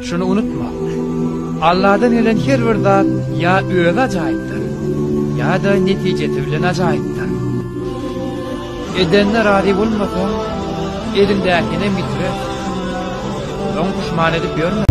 Şuny unutma, Alladan gelen her bir zat ýa özi ajaýypdyr, ýa-da netijesi bilen ajaýypdyr. Edenine razy bolmasaň, eliňdäkinem ýitire. Soň puşman edip ýörme.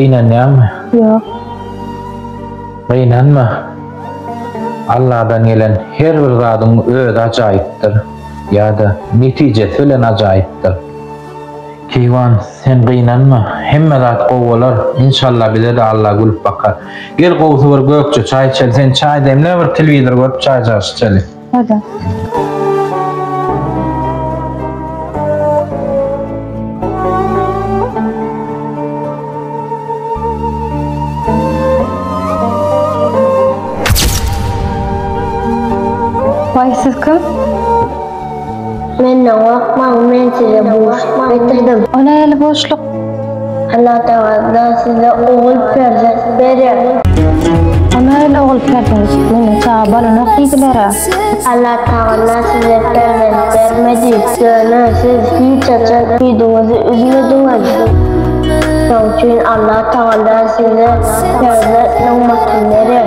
Gynanýaňmy? Ýok. Gynanma. Alladan gelen her bir zadyň özi ajaýypdyr ýa-da netijesi bilen ajaýypdyr. Keýwan sen gynanma hemme zat gowy bolar inşallah bizede Allah gülüp bakar. Gel gowusy bir gökje çaý içeli sen çaý demle bir telewizor görüp çaý çaş içeli. Hoda. Menden gorkmaň, men size buşluk getirdim. Ol eli buşluk. Allatagala size ogul perzent berer. Ol eli ogul perzent. Meniň çaga bolanok diýdiler-ä. Allatagala size perzent bermedi. Ýöne siz hiç haçan üýdüňizi üzmediňiz. Şoň üçin Allatagala size perzent nygmatyny berer.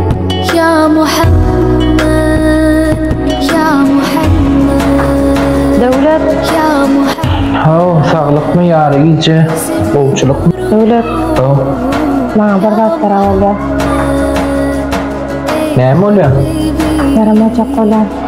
Ya Muhammed Ya Muhammed Döwlet Ya Muhammed Haw saglykmy ýary gije gowçulykmy Döwlet Haw Maňa bir zat ýara bolýar Näme bolýar Ýaramajak bolýar